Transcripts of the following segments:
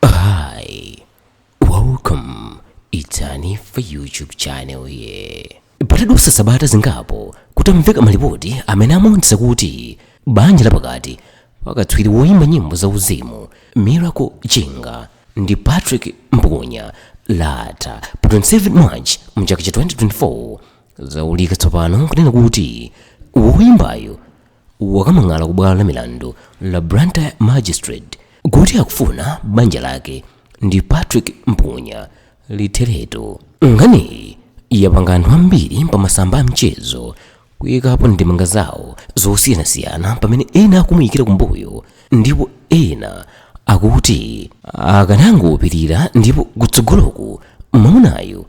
Hi, welcome. It's Hanifa YouTube channel here. Patadutsa sabata zingapo kutamveka malipoti amene amaonetsa kuti banja lapakati pakatswiri woimba nyimbo za uzimu Miracle Chinga ndi Patrick Mpukunya latha pa 27 March mchaka cha 2024 zaululika tsopano kunena kuti woimbayo wakamang'ala ku bwalo la milandu la Blantyre Magistrate kuti akufuna banja lake ndi Patrick Mpukunya litheretu. Nkhaniyi yapanga anthu ambiri pa masamba a mchezo kuyikapo ndemanga zawo zosiyanasiyana pamene ena akumuyikira kumbuyo ndipo ena akuti akanangopirira ndipo kutsogoloku mwamunayo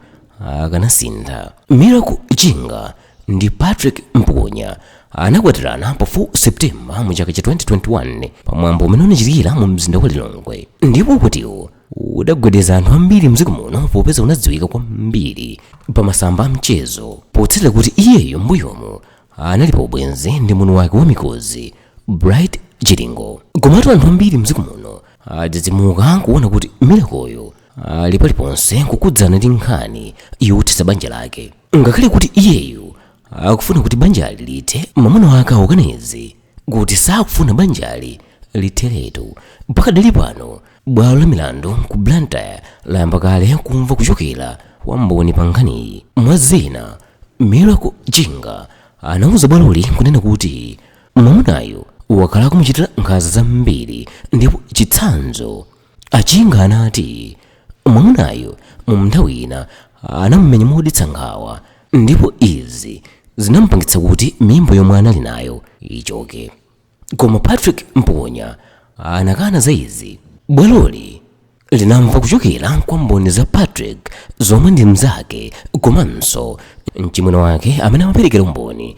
akanasintha. Miracle Chinga ndi Patrick Mpukunya anakwatirana pa 4 Septemba mu chaka cha 2021 pa mwambo umene unachitikira mu mzinda wa Lilongwe ndipo ukwatiwo udagwedeza anthu ambiri mdziko muno popeza unadziwika kwambiri pa masamba a mchezo potsatira kuti iyeyo mbuyomo anali pa ubwenzi ndi mwini wake wa Mikozi Bright Chiligo komatu anthu ambiri mdziko muno adzidzimuka kuona kuti Miracle-yo ali paliponse kukudzana ndi nkhani yothetsa banja lake ngakhale kuti iyeyu akufuna kuti banjali lithe mwamuna wake akukana izi kuti sakufuna banjali litheretu pakadali pano bwalo la milandu ku blantyre layamba kale kumva kuchokera kwa mboni pa nkhaniyi mwa zina miracle chinga anauza bwaloli kunena kuti mwamunayo wakhala akumuchitira nkhanza zambiri ndipo chitsanzo A Chinga anati mwamunayu mu nthawi ina anamumenya modetsa nkhawa ndipo izi zinamupangitsa kuti mimba yomwe anali nayo ichoke. Koma Patrick Mpukunya anakana za izi. Bwaloli linamva kuchokera kwa mboni za Patrick zomwe ndi mnzake komanso mchimwene wake amene amaperekera umboni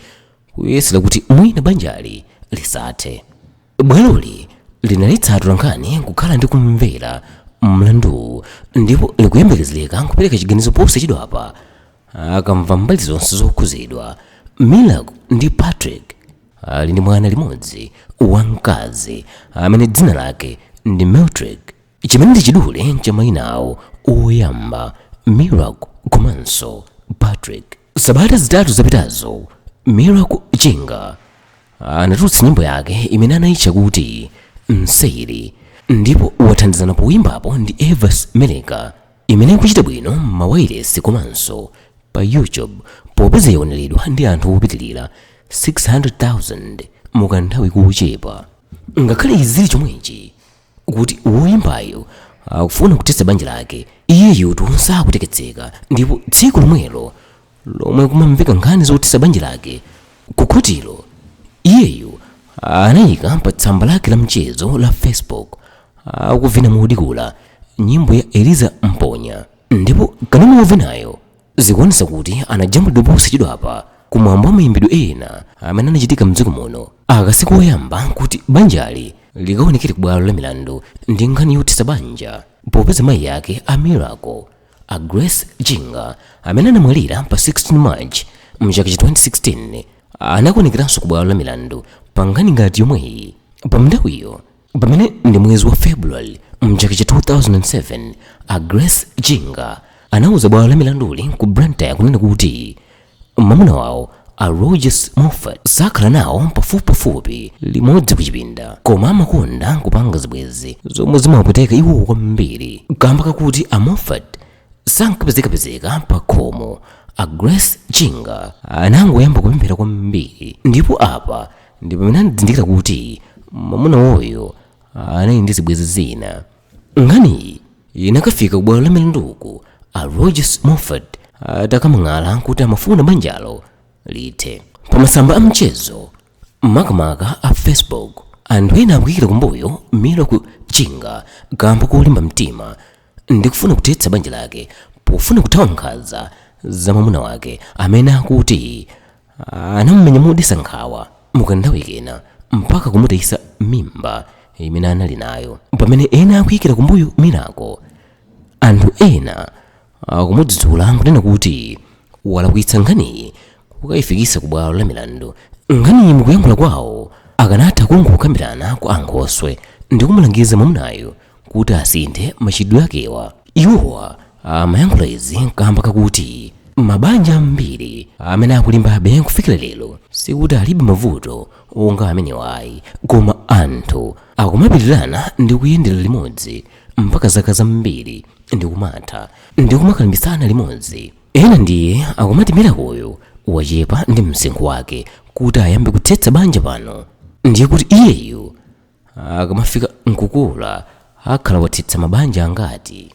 kuyesera kuti mwina banjali lisathe. bwaloli linaletsa atolankhani kukhala ndi kumvera mlanduwu ndipo likuyembekezereka kupereka chiganizo posachedwapa akamva mbali zonse zokhudzidwa miracle ndi patrick ali ndi mwana mmodzi wamkazi amene dzina lake ndi mirtrick chimene ndi chidule cha mayina awo oyamba miracle komanso patrick sabata zitatu zapitazo miracle chinga anatulutsa nyimbo yake imene anayitcha kuti mseri ndipo wathandizana poyimbapo ndi evance meleka imene ikuchita bwino m'mawailesi komanso pa youtube popeza yaoneredwa ndi anthu opitirira 600,000 mukanthawi kochepa ngakhale izi zili chomwechi kuti woyimbayo akufuna kuthetsa banja lake iyeyu tu sakutekeseka ndipo tsiku lomwelo lomwe kumamveka nkhani zothetsa banja lake kukhotilo iyeyo anayika pa tsamba lake la mchezo la facebook akuvina modikula nyimbo ya eliza mponya ndipo kanema wovinayo zikuonetsa kuti anajambulidwa posachedwapa ku mwambo wa mayimbidwe ena amene anachitika mdziko muno aka si koyamba kuti banjali likaonekere ku bwalo la milandu ndi nkhani yothetsa banja popeza mayi ake a miracle a grace chinga amene anamwalira pa 16 march mchaka cha 2016 anakaonekeranso ku bwalo la milandu pa nkhani ngati yomweyi pa nthawiyo pamene ndi mwezi wa february mchaka cha 2007 a grace chinga anauza bwalo la milanduli ku blantyre kunena kuti mwamuna wawo a rogers moffat sakhala nawo pafupipafupi limodzi kuchipinda koma amakonda kupanga zibwezi zomwe zimawapweteka iwo kwambiri kamba kakuti a moffat sankapezekapezeka pa khomo a grace chinga anangoyamba kupemphera kwambiri ndipo apa Ndi pamene anazindikira kuti mwamuna wawoyo anali ndi zibwezi zina, nkhaniyi inakafika ku bwalo la milanduku a Rogers Moffat atakadandaula kuti amafuna banjalo lithe. Pa masamba a mchezo makamaka a Facebook, anthu ena akuyikira kumbuyo Miracle Chinga kamba kolimba mtima ndikufuna kuthetsa banja lake pofuna kuthawa nkhanza za mwamuna wake amene akuti anamumenya modetsa nkhawa mukanthawi kena mpaka kumutayitsa mimba imene anali nayo pamene ena akuyikira kumbuyo miracle anthu ena akumudzudzula nkunena kuti walakwitsa nkhaniyi kukayifikitsa ku bwalo la milandu nkhaniyi mukuyankhula kwawo akanatha kungokambirana kwa ankhoswe ndi kumulangiza mwamunayo kuti asinthe machitidwe akewa. Iwowa amayankhula izi kamba kakuti mabanja ambiri amene akulimbabe kufikira lero sikuti alibe mavuto onga amenewa ayi, koma anthu akumapirirana ndi kuyendera limodzi mpaka zaka zambiri ndi kumatha ndi kumakalimbitsana limodzi. Ena ndiye akumati Miracle-yo wachepa ndi msinkhu wake kuti ayambe kuthetsa banja pano, ndiye kuti iyeyu akamafika nkukula akhala wathetsa mabanja angati